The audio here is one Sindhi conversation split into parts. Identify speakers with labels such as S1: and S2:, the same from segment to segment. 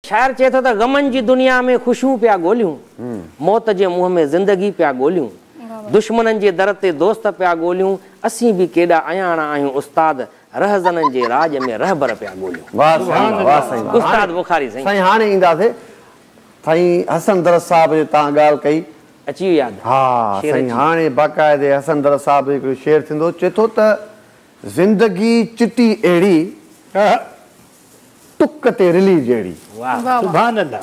S1: شاعر چئي ٿو ته غمن جي دنيا ۾ خوشيون پيا ڳوليون، موت جي منهن ۾ زندگي پيا ڳوليون، دشمنن جي در تي دوست پيا ڳوليون، اسين به ڪيڏا اياڻا آهيون استاد، رهزنن جي راڄ ۾ رهبر پيا ڳوليون. واهه سائين واهه واهه سائين واهه استاد بخاري سائين. سائين هاڻي اينداسي
S2: سائين حسن درس صاحب جي تان ڳالهه ڪئي. اچي ويو ياد. ها شعر
S1: سائين اچي ويو. هاڻي
S2: باقاعدي حسن درس صاحب جو هڪڙو شعر ٿيندو چئي ٿو ته زندگي چٽي اهڙي ٽڪ تي رلي جهڙي. واھ سبحان الله.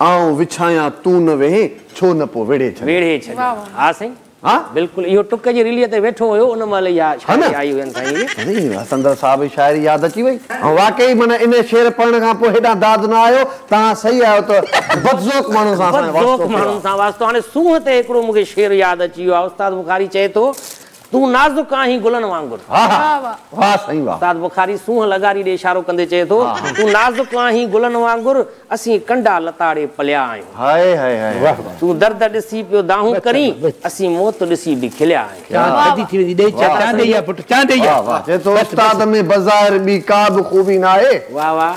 S3: آئون
S2: وڇايان تون نه ويهين ڇو نه پو ويڙهي ڇڏيان. ويڙهي ڇڏيان ها
S1: سائين بلڪل اهو ٽڪ جي رلي تي ويٺو هيو ان مهل اها شاعري آئي هين سائين جي. سندر صاحب جي شاعري
S2: ياد اچي وئي. واقعي معنيٰ ان شعر پڙهڻ کان پوء هيڏانهن داد نه آيو توهان صحيح آهيو ته بدذوق ماڻهن سان اسان جو واسطو ڪهڙو
S1: آهي. سونهن تي هڪڙو مون کي شعر ياد اچي ويو آهي استاد بخاري چئي ٿو تون نازڪ آهين گلن وانگر. واهه
S2: سائين واهه. استاد بخاري سونهن
S1: لغاري ڏي اشارو ڪندي چئي ٿو تون نازڪ آهين گلن وانگر اسين ڪنڊا لتاڙي پليا آهيون. هائي هائي هائي
S2: هائي. تون درد ڏسي
S1: پيو دانهون ڪرين اسين موت ڏسي به کليا آهيون. چاند ٿڌي ٿي ويندي ڏي چانڊ ڏئي آ پٽ چانڊ ڏئي آ. چئي ٿو استاد
S2: ۾ بظاهر ٻي ڪا به خوبي ناهي. واهه واهه.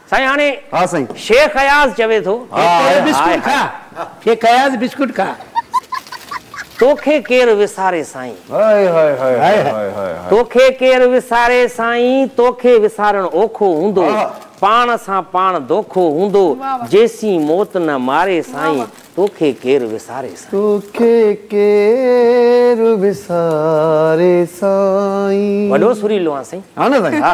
S1: سائين هاڻي ها سائين. شيخ
S2: اياز چوي
S1: ٿو. هاء هاء بسڪوٽ کاء.
S3: شيخ اياز بسڪوٽ کاء.
S1: توکي ڪير وساري سائين. هاء هاء هاء هاء هاء
S2: هاء. توکي ڪير
S1: وساري سائين. توکي وسارڻ اوکو هوندو. پاڻ سان پاڻ دوکو هوندو. جيسين موت نه ماري سائين. توکي ڪير وساري سائين. توکي
S2: ڪير وساري سائين. وڏو سريلو آهان
S1: سائين. ها نه سائين ها.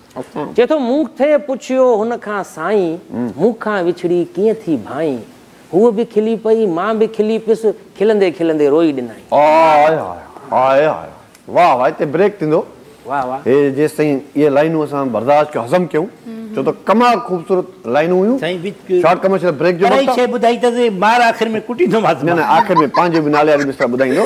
S1: چئي ٿو مون ٿئي پڇيو هن کان سائين، مون کان وڇڙي ڪيئن ٿي ڀائين. هوء به کلي پئي، مان به کلي پيس، کلندي کلندي روئي ڏنائين. آء آء آء آء آء
S2: واهه واهه هتي بريڪ ٿيندو واهه واهه. هي
S1: جيستائين اهي
S2: لائينون اسان برداشت ڪيون هضم ڪيون ڇو ته ڪمال خوبصورت لائينون هيون سائين وچ ڪيو شارٽ ڪمرشل بريڪ جو پر هي وقت آ. شيء ٻڌائي ته مار
S3: آخر
S2: ۾ ڪٽيندومانس نه نه مان.
S3: آخر
S2: ۾
S3: پنهنجي
S2: به نالي واري
S3: مصرع
S2: ٻڌائيندو